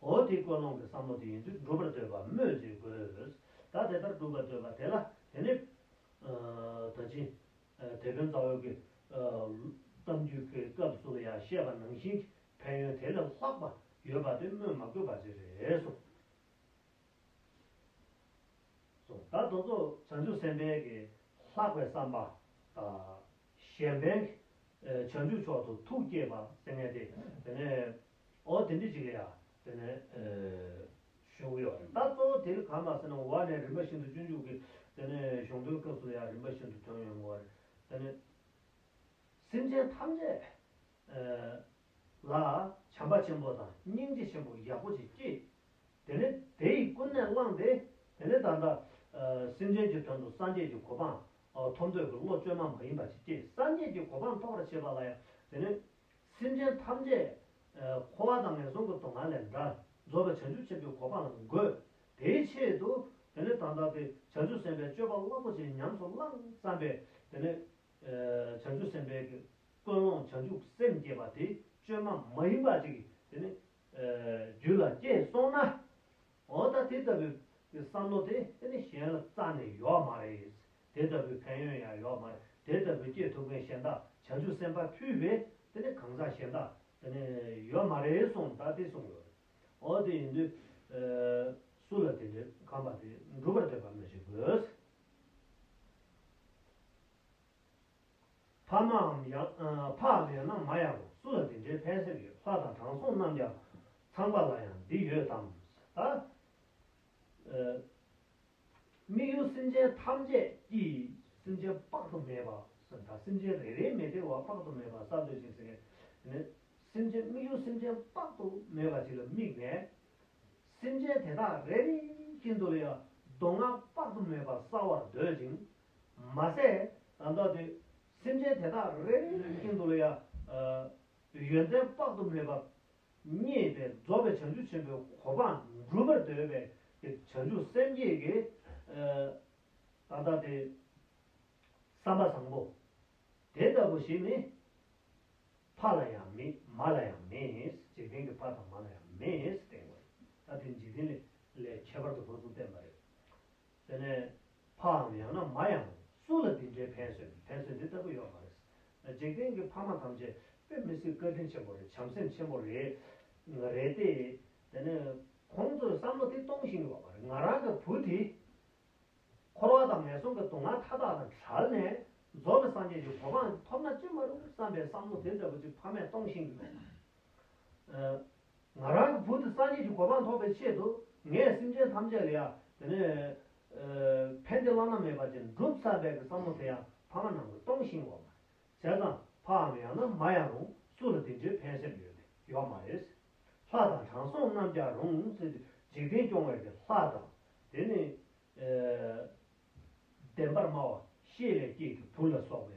འོ་དེ་ཀོ་ལོང་གི་བསམ་བློ་དེ་ཡིན་དུས་སྒྲུབ་པར་འདོད་པ་སྨོས་མཛད་དགོས། ད་དེ་ལྟར་སྒྲུབ་པར་འདོད་པ་དེ་ལ་དེ་ནི། ད་ཕྱིན། དེད་དཔོན་རྩ་བའི་གི། གཏམ་རྒྱུད་ཀྱི་སྐབས་སུ་ཡང་བཤད་པ་ནང་བཞིན་གྱི་ཕན་ཡོན་དེ་ལས་ལྷག་པ་ཡོད་པ་དེ་སྨོས་མ་དགོས་པ་ཅི་རེད་གསུངས། ད་དོ་ཚོགས་བྱང་ཆུབ་སེམས་དཔའི་གི་ལྷག་པའི་བསམ་པ་དང། གཞན་ཕན་གྱི་བྱང་ཆུབ་མཆོག་ཏུ་ཐུགས་བསྐྱེད་པ་སེམས་ངེས་ཏེ་དེ་ནས་ཨོ་དེ་འདྲི་ཅིག་ལ་ཡ། དེ་ནས། གཞུང་གི་ཡོ། ད་གཙོ་བོ་དེ་ལ་གང་མ་ཟེར་ན་བ་ནས་རིམ་པ་བཞིན་དུ་སྤྱོད་འཇུག་གི། དེ་ནས་གཞུང་དོན་སྐབས་སུ་ལ་ཡ་རིམ་པ་བཞིན་དུ་དོན་ཡོད་མོད། དེ་ནས། སེམས་ཅན་ཐམས་ཅད། ལ། བྱམས་པ་ཆེན་པོ་དང་སྙིང་རྗེ་ཆེན་པོ་ཡག་པོ་ཅིག་སྐྱེས། དེ་ནས་དེ་ཡིས་ཀུན་ནས་བསླངས་ཏེ། དེ་ནས་ད་ལྟ། སེམས་ཅན་གྱི་དོན་དུ་སངས་རྒྱས་ཀྱི་གོ་འཕང། ཐོབ་འདོད་ཀྱི་བློ་བཅོས་མ་མ་ཡིན་པ་ཅིག་སྐྱེས་སངས་རྒྱས་ཀྱི་གོ་འཕང་ཐོབ་པར་བྱེད་པ་ལ་ཡ། དེ་ནས། སེམས་ཅན་ཐམས་ཅད། འཁོར་བ་དང་ངན་སོང་གི་དོང་ངར་ལས་འདའ། རྫོགས་པའི་བྱང་ཆུབ་ཆེན་པོའི་གོ་འཕང་ལ་འགོད། དེའི་ཆེད་དུ། དེ་ནས་དང་བདག་གི་བྱང་ཆུབ་སེམས་དཔའི་སྤྱོད་པ་རླབས་པོ་ཆེ་ཉམས་སུ་བླངས་བརྩམས་པས། དེ་ནས། བྱང་ཆུབ་སེམས་དཔའི། ཀུན་སློང་བྱང་ཆུབ་སེམས་བསྐྱེད་པ་དེ་བཅོས་མ་མ་ཡིན་པ་ཅིག་དེ་ནི། རྒྱུད་ལ་སྐྱེས་སོང་ན། འོ་ད་དེ་ལྟ་བུའི། བསམ་བློ་དེ་ནི་གཞན་ལ་རྩ་ནས་ཡོད་མ་རེད། དེ་ལྟ་བུའི་ཕན་ཡོན་ཡང་ཡོད་མར་དེ་ལྟ་བུའི་སྐྱེས་ཐུབ་མཁན་གཞན་དག་བྱང་ཆུབ་སེམས་དཔའ་ཕུལ་བས་དེ་ནི་གང་ཟག་གཞན་དག་དེ་ནི་ཡོད་མ་རེད་གསུངས་ད་དེ་གསུངས་ཡོད་རེད་ཨོ་དེ་ཡིན་དུས་སུ་ལ་དེ་འདྲའི་ཁམས་པ་དེ་འགྲུབ་པར་འདོད་པ་མི་བྱེད་དགོས། ཕ་མའམ་ཡང་འཕགས་ལས་ན་མ་ཡང་སུ་ལ་དེ་འདྲའི་ཕན་སེམས་ཡོད་ལྷ་དང་དྲང་སྲོང་རྣམས་ཀྱང་ཚངས་པ་ལ་ཡང་འདི་ཡོད་དམ། ད། དམིགས་ཡུལ་སེམས་ཅན་ཐམས་ཅད་ཀྱི་སེམས་ཅན་དཔག་ཏུ་མེད་པ་དང་སེམས་ཅན་རེ་རེའི་མི་དེ་བ་དཔག་ཏུ་མེད་པར་ས་འདོད་ཅིང་སེམས་ཅན་སེམས་ཅན་དམིགས་ཡུལ་སེམས་ཅན་དཔག་ཏུ་མེད་པ་ཞིག་ལ་དམིགས་ནས། སེམས་ཅན་དེ་དག་རེ་རེ་ཀྱི་འདོད་ཡོན་མདོ་སྔགས་དཔག་ཏུ་མེད་པ་བསག་བར་འདོད་ཅིང། མ་ཟད་དང་ལྟ་དུས་སེམས་ཅན་དེ་དག་རེ་རེ་ཀྱི་འདོད་ཡོན་ཏན་དཔག་ཏུ་མེད་པ་བརྙེས་པས་རྫོགས་པའི་བྱང་ཆུབ་ཆེན་པོའི་གོ་འཕང་འགྲུབ་པར་འདོད་པས་ཀྱི་བྱང་ཆུབ་སེམས་བསྐྱེད་ཀྱི། ད་ལྟ་སྟེ། བསམ་པ་བཟང་པོ། དེ་ལྟ་བུ་ཞིག་ནི། ཕ་ལ་ཡང་མེད་མ་ལ་ཡང་མེད། འཇིག་རྟེན་གྱི་ཕ་དང་མ་ལ་ཡང་མེད། ད་ལྟའི་འཇིག་རྟེན་ལས་ཁྱད་པར་དུ་ཁོ་ཚོ་བསྟན་པ་རེད། དེ་ནས་ཕའམ་ཡང་ན་མ་ཡང་སུ་ལ་འདི་འདྲའི་ཕན་སོན་ཕན་ཚུན་འདི་ལྟ་བུ་ཡོད་མ་རེད། འཇིག་རྟེན་གྱི་ཕ་མ་ཐམས་ཅད་དཔེ་མི་སྲིད་བཀའ་དྲིན་ཆེན་པོ་རེད་བྱམས་སེམས་ཆེན་པོ་རེད། རེད་དེ། དེ་ནས་ཁོང་ཚོས་བསམ་བློ་དེ་གཏོང་བཞིན་ཡོད་པ་རེད་ང་རང་གི་བུ་དེ། འཁོར་བ་དང་ངན་སོང་གི་དུག་ལྔ་མཐའ་དག་དང་བྲལ་ནས་རྫོགས་པའི་སངས་རྒྱས་ཀྱི་གོ་འཕང་ཐོབ་ན་ཅི་མ་རུང་བསམ་པའི་བསམ་བློ་དེ་ལྟ་བུ་ཅིག་ཕ་མས་གཏོང་བཞིན་ཡོད། ང་རང་གི་བུ་དེ་སངས་རྒྱས་ཀྱི་གོ་འཕང་ཐོབ་པའི་ཆེད་དུ་ངས་སེམས་ཅན་ཐམས་ཅད་ལ་ཡང་དེ་ནས་ཕན་བདེ་བླ་ན་མེད་པ་ཅན་བསྒྲུབ་ས་བས་ཀྱི་བསམ་བློ་དེ་ཡང་ཕ་མ་རྣམས་ཀྱི་སྟོང་ཞིང་འོག་མ་བྱས་ཙང་ཕའམ་ཡང་ན་མ་ཡང་རུང་སུ་ལ་དེ་འདྲའི་ཕན་སེམས་ཡོད་མེད་ཡོད་མ་རེད། ལྷ་དང་དྲང་སྲོང་རྣམས་ཀྱང་རུང་སེམས་འཇིག་རྟེན་སྐྱོང་བས་ཀྱི་ལྷ་དང་དེ་ནས་བདེན་པར་སྨྲ་བ་ཤེས་ལས་སྐྱེས་ཀྱི་བུ་ལ་སོགས་པའི་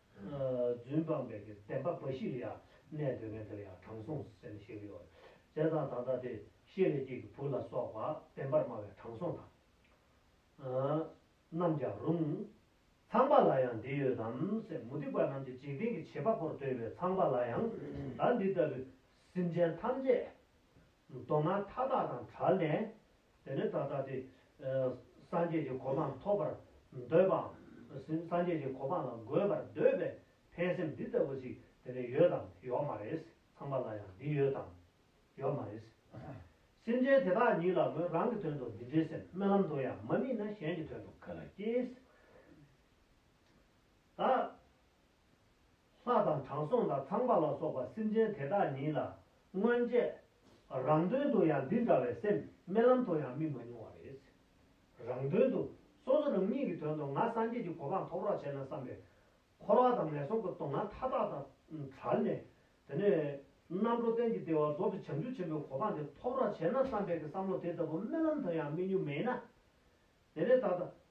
རྫུན་སྤངས་པའི་གི་བདེན་པ་འབའ་ཞིག་ལ་ཡང་གནས་འདོད་མེད་འདིར་ཡང་དྲང་སྲོང་ཟེར་ནས་ཤེས་ཀྱི་ཡོད། རྫས་དང་དང་ལྟ་སྟེ་ཤེས་ལས་སྐྱེས་ཀྱི་བུ་ལ་སོགས་པ་བདེན་པར་སྨྲ་བའི་དྲང་སྲོང་དང། རྣམས་ཀྱང་རུང། ཚངས་པ་ལ་ཡང་འདི་ཡོད་དམ་སེམས་མུ་སྟེགས་པ་རྣམས་ཀྱི་འཇིག་རྟེན་གྱི་བྱེད་པ་པོར་འདོད་པའི་ཚངས་པ་ལ་ཡང་བདག་འདི་ལྟ་བུའི་སེམས་ཅན་ཐམས་ཅད་མདོ་སྔགས་མཐའ་དག་དང་བྲལ་ནས། དེ་ནི་ད་ལྟ་སྟེ། སངས་རྒྱས་ཀྱི་གོ་འཕང་ཐོབ་པར་འདོད་པའམ། སངས་རྒྱས་ཀྱི་གོ་འཕང་ལ་འགོད་པར་འདོད་པའི་ཕན་སེམས་འདི་ལྟ་བུ་ཞིག་དེ་ནི་ཡོད་དམ་ཡོག་མ་རེད། ཚངས་པ་ལ་ཡང་འདི་ཡོད་དམ། ཡོག་མ་རེད། སེམས་ཅན་དེ་དག་ཉིད་ལ་མོས་རང་གི་དོན་དུ་འདི་འདྲའི་སེམས་རྨི་ལམ་དུ་ཡང་མ་རྨིས་ན་གཞན་གྱི་དོན་དུ་ག་ལ་སྐྱེས། ད། ལྷ་དང་དྲང་སྲོང་དང་ཚངས་པ་ལ་སོགས་པ་སེམས་ཅན་དེ་དག་ཉིད་ལ་སྔོན་ཆད། རང་དོན་དུ་ཡང་འདི་འདྲ་བའི་སེམས་རྨི་ལམ་དུ་ཡང་རྨིས་མ་མྱོང་བ་རེད། རང་དོན་དུ་སོ་སོ་རང་ཉིད་ཀྱི་དོན་དུ་ང་སངས་རྒྱས་ཀྱི་གོ་འཕང་ཐོབ་རོགས་བྱས་ན་བསམ་པས། འཁོར་བ་དང་ངན་སོང་གི་སྡུག་བསྔལ་མཐའ་དག་དང་བྲལ་ནས། དེ་ནས་རྣམ་གྲོལ་གཏན་གྱི་བདེ་བ་རྫོགས་པའི་བྱང་ཆུབ་ཆེན་པོའི་གོ་འཕང་དེ་ཐོབ་རོགས་བྱས་ན་བསམ་པས་ཀྱི་བསམ་བློ་དེ་ལྟ་བུ་རྨི་ལམ་དུ་ཡང་རྨིས་མྱོང་མེད་ན། དེ་ནས་ད་ལྟ།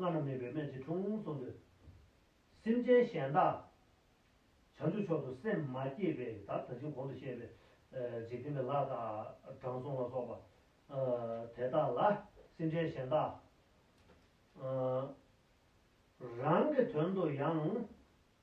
བླ་ན་མེད་པའི་སྨན་གྱི་དྲུང་སོང་དུས། སེམས་ཅན་གཞན་དག་བྱང་ཆུབ་མཆོག་ཏུ་སེམས་མ་བསྐྱེད་པའི་བརྡར་ད་ཕྱིན་གོང་དུ་བཤད་པའི། འཇིག་རྟེན་པའི་ལྷ་དང་དྲང་སྲོང་ལ་སོགས་པ། དེ་དག་ལ་སེམས་ཅན་གཞན་དག། རང་གི་དོན་དུ་ཡང།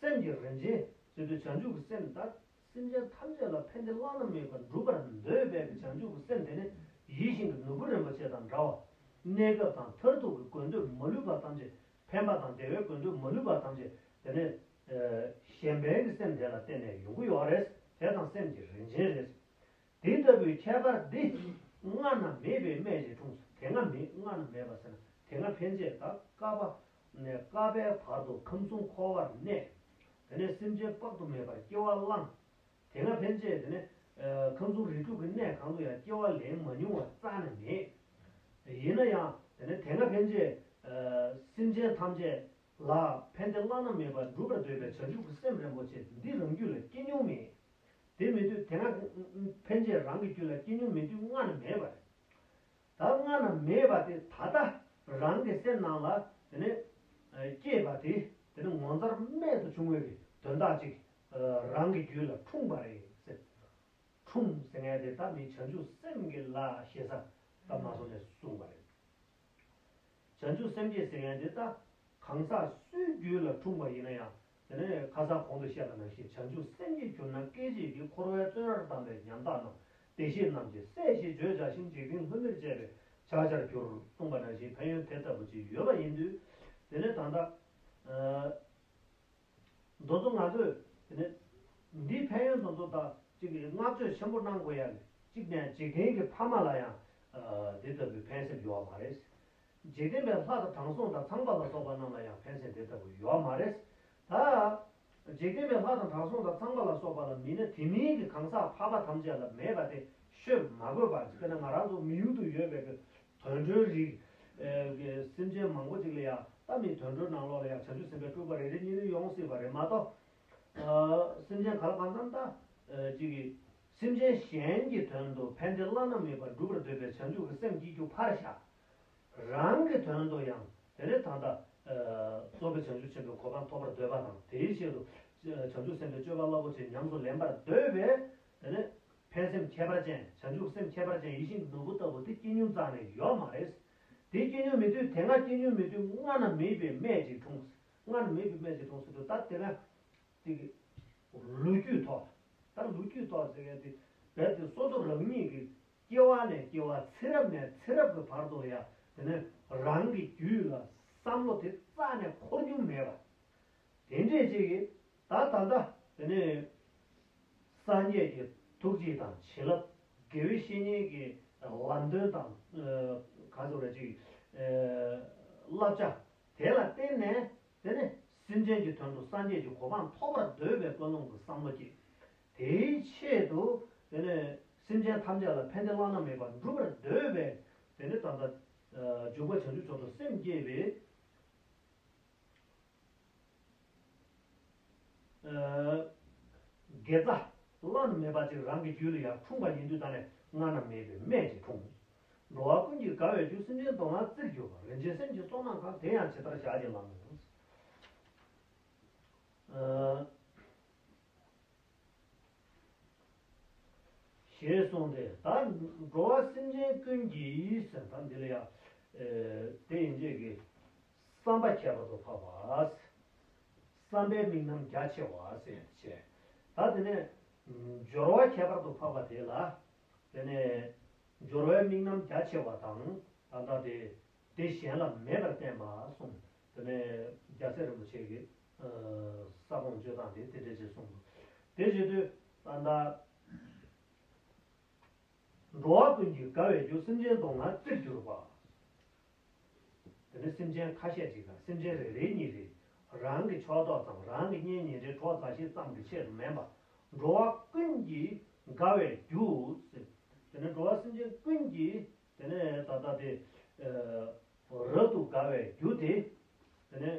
སེམས་ཀྱི་རིན་ཆེན་བརྩེ་དུས་བྱང་ཆུབ་ཀྱི་སེམས་ལྟར་སེམས་ཅན་ཐམས་ཅད་ལ་ཕན་བདེ་བླ་ན་མེད་པ་འགྲུབ་པར་འདོད་པས་ཀྱི་བྱང་ཆུབ་ཀྱི་སེམས་དེ་ནི་ཡིད་བཞིན་གྱི་ནོར་བུ་རིན་པོ་ཆེ་དང་འདྲ་བ། གནས་སྐབས་དང་མཐར་ཐུག་གི་དགོས་འདོད་མ་ལུས་པ་ཐམས་ཅད་ཕན་པ་དང་བདེ་བའི་དགོས་འདོད་མ་ལུས་པ་ཐམས་ཅད་དེ་ནི། གཞན་ཕན་གྱི་སེམས་དེ་ལ་བརྟེན་ནས་ཡོང་གི་ཡོད་རེད། དེ་དང་སེམས་ཀྱི་རིན་ཆེན་རེད། དེ་ལྟ་བུའི་ཁྱད་པར་འདི་སྔ་ན་མེད་པའི་སྨད་ཀྱི་འཁྲུངས་སོ་དེ་སྔ་མེད་སྔ་ན་མེད་པ་ཟེར་ན་དེ་སྔ་ཕན་ཆད་དང་བསྐལ་པ་ནས་ཀ་བའི་བར་དུ་ཁམས་གསུམ་འཁོར་བར་གནས། དེ་ནས་སེམས་ཅན་དཔག་ཏུ་མེད་པར་སྐྱེ་བ་བླངས། དེ་སྔ་ཕན་ཆད་དེ་ནས། ཁམས་གསུམ་རིགས་དྲུག་གི་གནས་གང་དུ་ཡང་སྐྱེ་བ་ལེན་མ་མྱོང་བ་རྩ་ནས་མེད། ཡིན་ན་ཡང་དེ་ནས་དེ་སྔ་ཕན་ཆད། སེམས་ཅན་ཐམས་ཅད་ལ་ཕན་བདེ་བླ་ན་མེད་པ་འགྲུབ་པར་འདོད་པའི་བྱང་ཆུབ་ཀྱི་སེམས་རིན་པོ་ཆེ་འདི་རང་རྒྱུད་ལ་སྐྱེ་མྱོང་མེད། དེ་མེད་དུས་དེ་སྔ་ཕན་ཆད་རང་གི་རྒྱུད་ལ་སྐྱེ་མྱོང་མེད་དུས་སྔ་ན་མེད་པར། ད་སྔ་ན་མེད་པ་དེ་ད་ལྟ་རང་གི་སེམས་ནང་ལ་དེ་ནི་སྐྱེས་པ་དེ་དེ་ནི་ངོ་མཚར་རྨད་དུ་བྱུང་བའི་དོན་དག་ཅིག་རང་གི་རྒྱུད་ལ་འཁྲུངས་པ་རེད་ཟེར། འཁྲུངས་ཟེར་ངས་དེ་ད་མི་བྱང་ཆུབ་སེམས་ཀྱི་ལ་ཞེ་ས་ད་མ་སོང་ནས་གསུངས་པ་རེད། བྱང་ཆུབ་སེམས་སྐྱེས་ཟེར་ངས་དེ་ད་གང་ཟག་སུའི་རྒྱུད་ལ་འཁྲུངས་པ་ཡིན་ན་ཡང་དེ་ནས་ཁ་སང་གོང་དུ་བཤད་པ་ནང་བཞིན་བྱང་ཆུབ་སེམས་ཀྱིས་གྱུར་ན་སྐད་ཅིག་གིས་འཁོར་བའི་བཙོན་རར་བསྡམས་པའི་ཉམ་ཐག་རྣམས་བདེ་གཤེགས་རྣམས་ཀྱིས་སྲས་ཞེས་བརྗོད་བྱ་ཞིང་འཇིག་རྟེན་ལྷུན་མེར་བཅས་པའི་ཕྱག་ཆར་གྱུར། གསུངས་པ་ནང་བཞིན་ཕན་ཡོན་དེ་ལྟ་བུ་ཅིག་ཡོད་པ་ཡིན་དུས། དེ་ནས་ད་ལྟ། རྡོ་རྫུ་ང་ཚོས་དེ་ནས། འདིའི་ཕན་ཡོན་དང་མཚུངས་དག་ཅིག་གིས་བསྔགས་བརྗོད་ཆེན་པོ་གནང་དགོས་ཡ། གཅིག་ནས་འཇིག་རྟེན་གྱི་ཕ་མ་ལ་ཡང། དེ་ལྟ་བུའི་ཕན་སེམས་ཡོད་བ་མ་རེད། འཇིག་རྟེན་པའི་ལྷ་དང་དྲང་སྲོང་དང་ཚངས་པ་ལ་སོགས་པ་རྣམས་ལ་ཡང་ཕན་སེམས་དེ་ལྟ་བུ་ཡོད་མ་རེད། ད། འཇིག་རྟེན་པའི་ལྷ་དང་དྲང་སྲོང་དང་ཚངས་པ་ལ་སོགས་པ་ལ་མིན་ན་དེ་མིན་གྱི་གང་ཟག་འཕགས་པ་ཐམས་ཅད་ལ་མེད་པ་དེ་ཤོད་མ་དགོས་པར་དཔེར་ན་ང་རང་ཚོ་མི་ཡུལ་དུ་ཡོད་པའི་གི་དོན་གྲོལ་རིགས། གི་སེམས་ཅན་མང་པོ་ཅིག་ལ་ཡང་ལྟ་མི་དོན་གྲོལ་ནང་ལོགས་ལ་ཡང་བྱང་ཆུབ་སེམས་པའི་སྤྲུལ་པ་རེ་རེ་གཉིས་རེ་ཡོང་སྲིད་པ་རེད་མ་གཏོགས། སེམས་ཅན་ག་ལ་གང་རྣམས་ལྟ། ཅིག་གིས། སེམས་ཅན་གཞན་གྱི་དོན་དུ་ཕན་བདེ་བླ་ན་མེད་པ་སྒྲུབ་པར་འདོད་པའི་བྱང་ཆུབ་ཀྱི་སེམས་སྐྱེ་རྒྱུ་ཕར་བཞག། རང་གི་དོན་དུ་ཡང་དེ་ནས་ད་ལྟ། གསོ་བའི་བྱང་ཆུབ་ཆེན་པོའི་གོ་འཕང་ཐོབ་པར་འདོད་པ་དང་དེའི་ཆེད་དུ། བྱང་ཆུབ་སེམས་དཔའི་སྤྱོད་པ་རླབས་པོ་ཆེ་ཉམས་སུ་ལེན་པར་འདོད་པས། དེ་ནས། ཕན་སེམས་ཁྱད་པར་ཅན་བྱང་ཆུབ་སེམས་ཁྱད་པར་ཅན་ཡིད་བཞིན་ནོར་བུ་ལྟ་བུ་དེ་སྐྱེ་ཉུལ་གཙང་ནས་ཡོད་མ་རེད། དེ་སྐྱེ་ཉུལ་མི་དུས་དེ་སྔ་སྐྱེ་ཉུལ་མི་དུས་སྔ་ན་མེད་པའི་སྨད་ཅིག་འཁྲུངས། སྔ་ན་མེད་པའི་སྨད་ཅིག་འཁྲུངས་སོ་དེ་ལྟར་དེ་སྔ། དེ། ལོ་རྒྱུས་ཐོག་ད་ལོ་རྒྱུས་ཐོག་ཟེར་མཁན་དེ་རྦད་དེ་སོ་སོ་རང་ཉིད་ཀྱི་སྐྱེ་བ་ནས་སྐྱེ་བ་ཚེ་རབས་ནས་ཚེ་རབས་ཀྱི་བར་དུ་ཡང་དེ་ནི་རང་གི་རྒྱུད་ལ་བསམ་བློ་དེ་རྩ་ནས་འཁོར་རྒྱུ་མེད་པ་དེ་འདྲས་ཅིག་གིས་ད་ད་ལྟ་དེ་ནི་སངས་རྒྱས་ཀྱི་ཐུགས་རྗེ་དང་བྱིན་རླབས་དགེ་བའི་བཤེས་གཉེན་གྱི་ལམ་སྟོན་དང་གང་ཟེར་བ་ཅིག་བསླབ་བྱ་དེ་ལ་བརྟེན་ནས་དེ་ནས་སེམས་ཅན་གྱི་དོན་དུ་སངས་རྒྱས་ཀྱི་གོ་འཕང་ཐོབ་པར་འདོད་པའི་ཀུན་སློང་གི་བསམ་བློ་སྐྱེས། དེའི་ཆེད་དུ། དེ་ནས་སེམས་ཅན་ཐམས་ཅད་ལ་ཕན་བདེ་བླ་ན་མེད་པ་འགྲུབ་པར་འདོད་པས། དེ་ནས་ད་ལྟ། འཇུག་པ་བྱང་ཆུབ་མཆོག་ཏུ་སེམས་བསྐྱེད་པས། དགེ་རྩ། བླ་ན་མེད་པ་ཅིག་རང་གི་རྒྱུད་ལ་ཡང་འཁྲུངས་པ་ཡིན་དུས་ད་ནས་སྔ་ན་མེད་པའི་སྨད་ཅིག་འཁྲུངས། འགྲོ་བ་ཀུན་གྱིས་དགའ་བའི་རྒྱུ་སེམས་ཅན་དུ་ང་བརྩིར་གྱུར་པ་རིན་ཆེན་སེམས་ཀྱི་སོ་ནམ་གང་དེ་ཡང་ཇི་ལྟར་བཞག་ཀྱང་ལམ་མོ། ཞེས་གསུངས་ཏེ། ད་འགྲོ་བ་སེམས་ཅན་ཀུན་གྱིས། ད་འདི་ལ་ཡང། དེ་ཡིན་ཅིག་གི། བསམ་པ་ཁྱད་པར་དུ་འཕགས་པ། བསམ་པའི་དམིགས་རྣམ་རྒྱ་ཆེ་བ། ད་དེ་ནས། སྦྱོར་བ་ཁྱད་པར་དུ་འཕགས་པ་དེ་ལ། དེ་ནས་སྦྱོར་བའི་དམིགས་རྣམ་རྒྱ་ཆེ་བ་དང་ལ་བཟླ་སྟེ། དེ་གཞན་ལ་མེད་པར་བསྟན་པ་གསུངས། དེ་ནས་རྒྱལ་སྲས་རིན་པོ་ཆེ་གི། ས་གོང་བརྗོད་སྟངས་དེ་དེ་འདྲའི་རྗེས་གསུངས་སོ། དེ་བཞིན་དུ་ལ་བཟླ། འགྲོ་བ་ཀུན་གྱི་དགའ་བའི་རྒྱུ་སེམས་ཅན་དུག་ལྔ་རྩིར་གྱུར་པ། དེ་ནས་སེམས་ཅན་ཁ་ཤས་ཅིག་དང་སེམས་ཅན་རེ་རེའི་གཉིད་རེ། རང་གི་ཕྱོགས་གཏོགས་དང་རང་གི་གཉེན་ཉེ་རེ་གྲོགས་མཛའ་བཤེས་ཙམ་གྱི་ཆེད་དུ་མིན་པར། འགྲོ་བ་ཀུན་གྱི་དགའ་བའི་རྒྱུ། དེ་ནས་འགྲོ་བ་སེམས་ཅན་ཀུན་གྱི། དེ་ནས་ད་ལྟ་དེ། རབ་ཏུ་དགའ་བའི་རྒྱུ་དེ། དེ་ནས།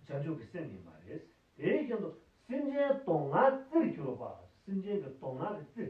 བྱང་ཆུབ་ཀྱི་སེམས་ཡིན་པ་རེད། དེ་བཞིན་དུ་སེམས་ཅན་གདོང་ལྔའི་རྩིར་གྱུར་པ། སེམས་ཅན་གྱི་གདོང་ལྔ་གི་རྩིར།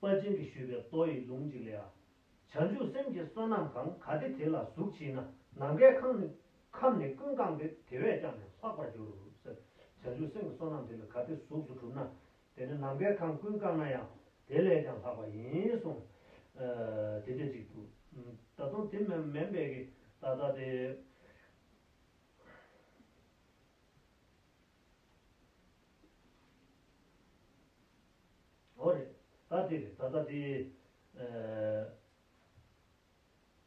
པ་ཅན་གྱིས་ཞུས་པའི་ལྟོ་ཡི་ལུང་གཅིག་ལས་ཨ། བྱང་ཆུབ་སེམས་ཀྱི་བསོད་ནམས་གང་གཱ་སྟེ་དེ་ལ་གཟུགས་མཆིས་ན་ནམ་མཁའི་ཁམས་ནི་ཁམས་ནི་ཀུན་བཀང་སྟེ་དེ་བས་ཀྱང་ནི་ལྷག་པར་འགྱུར། བྱང་ཆུབ་སེམས་ཀྱི་བསོད་ནམས་དེ་ལ་ག་ཏི་གཟུགས་སུ་གྲུབ་ན་དེ་ནི་ནམ་མཁའི་ཁམས་ཀུན་བཀང་ན་ཡང་དེ་ལས་ཀྱང་ལྷག་པ་ཡིན་གསུངས། དེ་སྐད་ཅིག་ཏུ། ད་དུང་དེ་མན་མན་པའི་གི་ད་ད་དེ། ཨོ་རེད་ད་དེ་རེད་ད་ལྟ་དེ།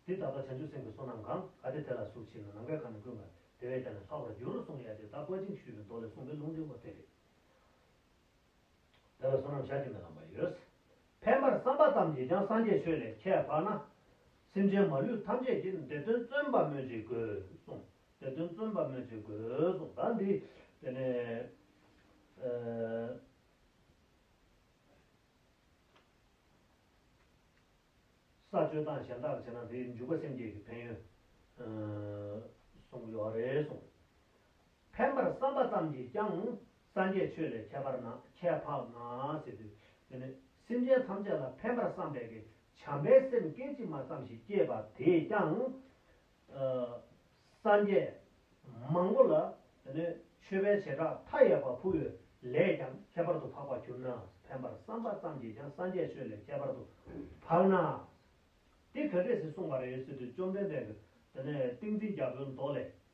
དེ་ད་ལྟ་བྱང་ཆུབ་སེམས་ཀྱི་བསོད་ནམས་གང་ག་དེ་དེ་ལ་ཟུག་བྱས་ན་ནམ་མཁའི་ཁམས་ནི་ཀུན་དགའ་བདེ་བས་ཀྱང་ནི་ལྷག་པར་འགྱུར་རོ་གསུངས་ཡ་དེ་ད་བཀའ་དྲིན་ཞུས་པའི་མདོ་ལས་གསུངས་པའི་ལུང་འདི་ཨོ་དེ་རེད། དེ་ལ་བསོད་ནམས་ཆ་གཅིག་མི་ལངས་པ་ཡོད། ཕལ་མར་བསམ་པ་ཙམ་གྱིས་ཀྱང་སངས་རྒྱས་ཆོས་ལས་ཁྱད་འཕགས་ན། སེམས་ཅན་མ་ལུས་ཐམས་ཅད་ཀྱིས་དེ་དོན་བརྩོན་པ་སྨོས་ཅི་དགོས་གསུངས། དེ་དོན་བརྩོན་པ་སྨོས་ཅི་དགོས་གསུངས་ད་འདི་དེ་ནས་ཨེ། ས་སྤྱོད་སྟངས་གཞན་དག་བྱས་ན་དེའི་འཇུག་པ་སེམས་བསྐྱེད་ཀྱི་ཕན་ཡོན་གསུངས་ཡོད་རེད་གསུངས། ཕན་པར་བསམ་པ་ཙམ་གྱིས་ཀྱང་སངས་རྒྱས་ཆོས་ལས་ཁྱད་པར་ན་ཁྱད་འཕགས་མ་སྲིད་དུ། འདི་ནི་སེམས་ཅན་ཐམས་ཅད་ལ་ཕན་པར་བསམ་པས་ཀྱི་བྱམས་པའི་སེམས་སྐད་ཅིག་མ་ཙམ་ཞིག་སྐྱེས་པ་དེས་ཀྱང། སངས་རྒྱས་མང་པོ་ལ། འདི་ནི་མཆོད་པའི་བྱེ་བྲག་མཐའ་ཡས་པ་ཕུལ་བས་ལས་ཀྱང་ཁྱད་པར་དུ་འཕགས་པར་གྱུར་ན་ཕན་པར་བསམ་པ་ཙམ་གྱིས་ཀྱང་སངས་རྒྱས་ཆོས་ལས་ཁྱད་པར་དུ་འཕགས་ན། འདི་ག་རེ་ཟིག་གསུངས་པ་རེ་ཟིག་ཏུ་བཅོམ་ལྡན་འདས་ཀྱིས་འདི་ནི་ཏིང་འཛིན་རྒྱ་བོད་མདོ་ལས།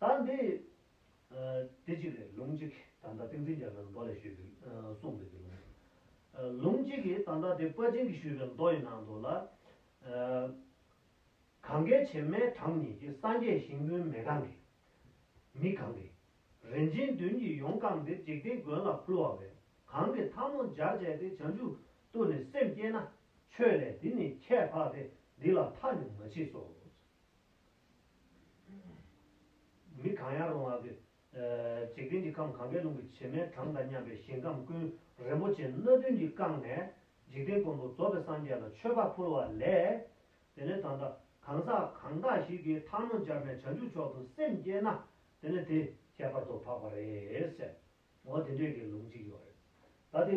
དང། དེ་གཅིག་རེད་ལུང་གཅིག་དང་ད་ཏིང་འཛིན་རྒྱ་མཚོས་མདོ་ལས་ཞུས་པའི་གསུངས་འདུག་དེ་ལུང། ལུང་གཅིག་གིས་དང་ད་དེ་པཱ་ཅིང་གིས་ཞུས་པའི་མདོ་ཡི་ནང་དུ་ལ། གངྒཱའི་བྱེ་མའི་གྲངས་ཉིད་ཀྱི་སངས་རྒྱས་ཞིང་བུའི་མེ་གང་གི། མི་གང་གི། རིན་ཆེན་བདུན་གྱིས་ཡོངས་བཀང་སྟེ་འཇིག་རྟེན་མགོན་ལ་ཕུལ་བ་བས་གང་གི་ཐབ་མོ་སྦྱར་བྱས་ཏེ་བྱང་ཆུབ་ཏུ་ནི་སེམས་བསྐྱེད་ན་ཆོས་ལས་དེ་ནི་ཁྱད་འཕགས་ཏེ་འདི་ལ་མཐའ་ནི་མ་མཆིས་སོ། མི་གང་ཡང་རུང་བ། འཇིག་རྟེན་གྱི་ཁམས་གང་གཱའི་ཀླུང་གི་བྱེ་མའི་གྲངས་དང་མཉམ་པའི་ཞིང་ཁམས་ཀུན་རིན་པོ་ཆེ་སྣ་བདུན་གྱིས་བཀང་ནས། འཇིག་རྟེན་མགོན་པོ་རྫོགས་པའི་སངས་རྒྱས་ལ་མཆོད་པ་ཕུལ་བ་ལས། དེ་ནས་ད་ལྟ་གང་ཟག་གང་དག་ཞིག་གིས་འཕགས་ནོར་སྦྱར་ནས་བྱང་ཆུབ་མཆོག་ཏུ་སེམས་བསྐྱེད་ན། དེ་ནས་དེ་ཁྱད་པར་དུ་འཕགས་པ་རེད། ཟེར་ངོ། དེ་འདྲས་ཀྱི་ལུགས་འཇིག་ཡོད་རེད། ད་དེ།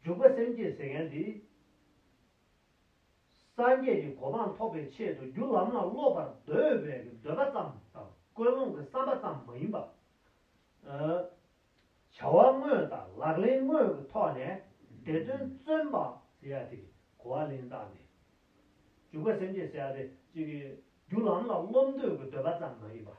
འཇུག་པ་སེམས་བསྐྱེད་ཟེར་མཁན་འདི། སངས་རྒྱས་ཀྱི་གོ་འཕང་ཐོབ་པའི་ཆེད་དུ་རྒྱུ་ལམ་ལ་སློབ་པར་འདོད་པའི་འདོད་པ་ཙམ་དང་ཀུན་སློང་གི་བསམ་པ་ཙམ་མ་ཡིན་པར། བྱ་བ་དངོས་དང་ལག་ལེན་དངོས་ཀྱི་ཐོག་ནས་དེ་དོན་བརྩོན་པ། ཟེར་ཡ་དེ་གོ་བ་ལེན་སྟངས་དེ། འཇུག་པ་སེམས་བསྐྱེད་ཟེར་ཡ་དེ། རྒྱུ་ལམ་ལ་སློབ་འདོད་ཀྱི་འདོད་པ་ཙམ་མ་ཡིན་པར།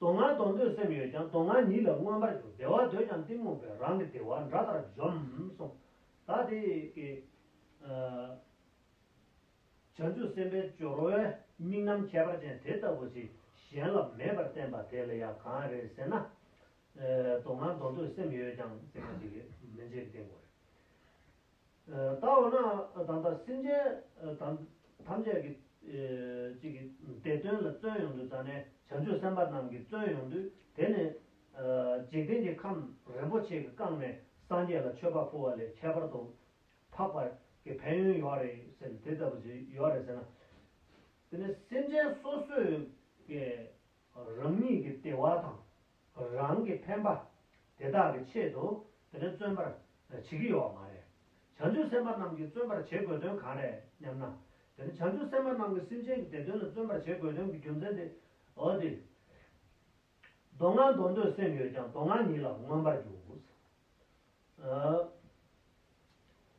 དོ་ང་གཏོང་འདོད་སེམས་ཡོད་ཀྱང་དོ་ང་ཉིད་ལ་མངོན་པར་འགྱུར་བདེ་བ་འདོད་ཀྱང་གཏི་མུག་པས་རང་གི་བདེ་བ་འདྲ་ལྟར་འཇོམས། གསུངས། ད་དེ་ཀའི། བྱང་ཆུབ་སེམས་དཔའི་སྦྱོར་བའི་དམིགས་རྣམ་ཁྱད་པར་ཅན་དེ་ལྟ་བུ་ཞིག་གཞན་ལ་མེད་པར་བསྟན་པ་དེ་ལ་ཡང་གང་རེད་ཟེར་ན། དོ་ང་གཏོང་འདོད་སེམས་ཡོད་ཀྱང། ལྟ་འོ་ན་ད་ལྟ་སེམས་ཅན་ཐམས་ཅད་ཀྱི་གཅིག་གི་དེ་དོན་ལ་བརྩོན་ཡོང་དུས་ད་ནས་བྱང་ཆུབ་སེམས་དཔའ་རྣམས་ཀྱིས་བརྩོན་ཡོང་དུས་དེ་ནི། འཇིག་རྟེན་གྱི་ཁམས་རིན་པོ་ཆེ་གི་བཀང་ནས་སངས་རྒྱས་ལ་མཆོད་པ་ཕུལ་བ་ལས་ཁྱད་པར་དུ་འཕགས་པ་ཀྱི་ཕན་ཡོན་ཡོད་རེད་ཟེར་ནས་དེ་ལྟ་བུ་ཞིག་ཡོད་རེད་ཟེར་ན། དེ་ནི་སེམས་ཅན་སོ་སོས་ཀྱི་རང་ཉིད་ཀྱི་བདེ་བ་དང། རང་གི་ཕན་པ་དེ་དག་གི་ཆེད་དུ་དེ་ནི་བརྩོན་པར་བྱེད་ཀྱི་ཡོད་བ་མ་རེད། བྱང་ཆུབ་སེམས་དཔའ་རྣམས་ཀྱིས་བརྩོན་པར་བྱེད་དགོས་དོན་གང་རེད་སྙམ་ན། དེ་ནི་བྱང་ཆུབ་སེམས་དཔའ་རྣམས་ཀྱིས་སེམས་ཅན་གྱི་བདེ་དོན་ལ་བརྩོན་པར་བྱེད་དགོས་དོན་གྱི་རྒྱུ་མཚན་དེའོ། འདིར་མདོ་སྔགས་མདོ་འདོད་སེམས་ཡོད་ཀྱང་མདོ་སྔགས་ཉིད་ལ་མངོན་པར་འགྱུར།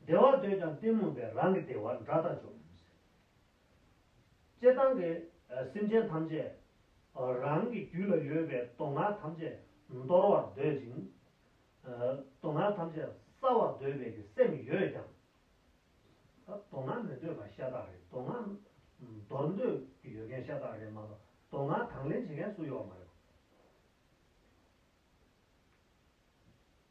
བདེ་བ་འདོད་ཀྱང་གཏི་མུག་པས་རང་གི་བདེ་བ་འདྲ་ལྟར་འཇོག། ཅེས་བཏང་སྟེ་སེམས་ཅན་ཐམས་ཅད་རང་གི་རྒྱུད་ལ་ཡོད་པའི་སྟོང་ངག་ཐམས་ཅད་འདོར་བར་འདོད་ཅིང། སྟོང་ངག་ཐམས་ཅད་སྲ་བར་འདོད་པའི་ཀྱི་སེམས་ཡོད་ཀྱང། སྟོང་ངག་མི་འདོད་པ་ཤ་སྟག་རེད་སྟོང་ངག་འདོར་འདོད་ཀྱི་ཡོད་མཁན་ཤ་སྟག་རེད་མ་གཏོགས་སྟོང་ངག་དང་ལེན་བྱེད་མཁན་སུ་ཡོད་མ་རེད།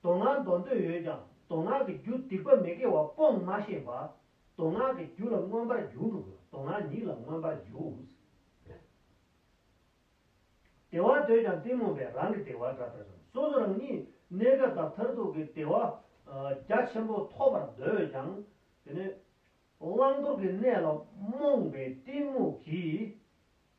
མདོ་སྔགས་མདོ་འདོད་ཡོད་ཀྱང་མདོ་སྔགས་ཀྱི་རྒྱུ་སྡིག་པ་མི་དགེ་བ་སྤོང་མ་ཤེས་པ། མདོ་སྔགས་ཀྱི་རྒྱུ་ལ་མངོན་པར་འགྱུར། མདོ་སྔགས་ཉིད་ལ་མངོན་པར་འགྱུར། བདེ་བ་འདོད་ཀྱང་གཏི་མུག་པས་རང་གི་བདེ་བ་དགྲ་ལྟར་བྱུང་སོ་སོ་རང་ཉིད་གནས་སྐབས་དང་མཐར་ཐུག་གི་བདེ་བ་རྒྱ་ཆེན་པོ་ཐོབ་པར་འདོད་ཀྱང། དེ་ནི་བླང་དོར་གྱི་གནས་ལ་རྨོངས་པའི་གཏི་མུག་གིས།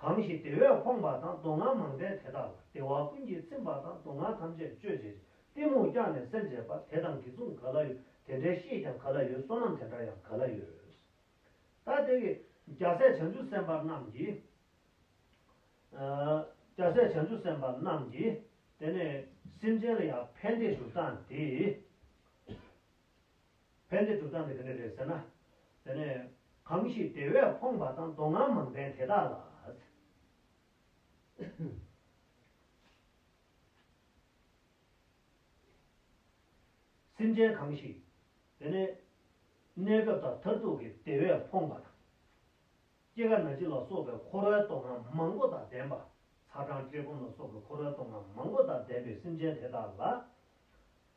གང་ཞིག་དེ་བས་ཕོངས་པ་དང་སྡུག་བསྔལ་མང་པས་དེ་དག་ལ་བདེ་བ་ཀུན་གྱིས་ཚིམ་པ་དང་སྡུག་བསྔལ་ཐམས་ཅད་གཅོད་བྱེད་ཅིང་གཏི་མུག་བསྐྱངས་ནས་སེམས་བརྗེད་པ་དེ་དང་གི་མཚུངས་ག་ལ་ཡོད་དེ་འདྲའི་ཤེས་ཀྱང་ག་ལ་ཡོད་བསོད་ནམས་དེ་འདྲ་ཡང་ག་ལ་ཡོད། ད་དེ་ཀའི་རྒྱལ་སྲས་བྱང་ཆུབ་སེམས་དཔའ་རྣམས་ཀྱིས། རྒྱལ་སྲས་བྱང་ཆུབ་སེམས་དཔའ་རྣམས་ཀྱིས་དེ་ནས་སེམས་ཅན་ལ་ཡང་ཕན་བདེ་སྡུག་བསྟན་ཏེ། ཕན་བདེ་སྒྲུབ་སྟངས་དེ་ག་འདྲ་རེད་ཟེར་ན། དེ་ནས། གང་ཞིག་དེ་བས་ཕོངས་པ་དང་མདོ་སྔགས་མང་བསྟན་དེ་དག་ལ། སེམས་ཅན་གང་ཞིག། དེ་ནས། གནས་སྐབས་དང་མཐར་ཐུག་གི་དེ་བས་ཕོངས་པ་དང། སྐྱེ་རྒ་ན་འཆི་ལ་སོགས་པའི་འཁོར་བའི་མདོ་སྔགས་མང་པོ་དང་ལྡན་པ། ཚ་གྲང་བཀྲེས་སྐོམ་ལ་སོགས་པའི་འཁོར་བའི་མདོ་སྔགས་མང་པོ་དང་ལྡན་པའི་སེམས་ཅན་དེ་དག་ལ།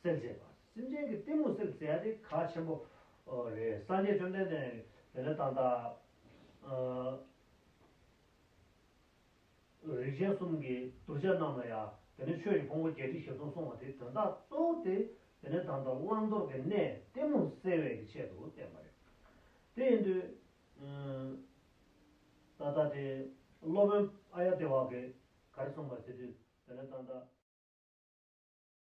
སེལ་བྱེད་པ། སེམས་ཅན་གྱི་གཏི་མུག་སེལ་བྱེད་དེ་གལ་ཆེན་པོ་རེད། སངས་རྒྱས་བཅོམ་ལྡན་འདས་ནི་དེ་ལས་ཏག་ཏག། རིགས་ཅན་གསུམ་གྱི་གདུལ་བྱ་རྣམས་ལ་ཡང་དེ་ནི་ཆོས་ཀྱི་ཕུང་པོ་བརྒྱད་ཁྲི་བཞི་སྟོང་གསུངས་བ་དེ་དོན་དག་རྟོགས་ཏེ་དེ་ནི་དང་དུ་བླང་དོར་གྱི་གནས་གཏི་མུག་སེལ་བའི་ཀྱི་ཆེད་དུ་བསྟན་པ་རེད། དེ་ཡིན་དུས། ད་ལྟ་དེ་སློབ་དཔོན་ཨ་ཡ་ཏི་བ་གིས་ག་རེ་གསུངས་པ་དེ་དུས་དེ་ནི་ཏག་ཏག།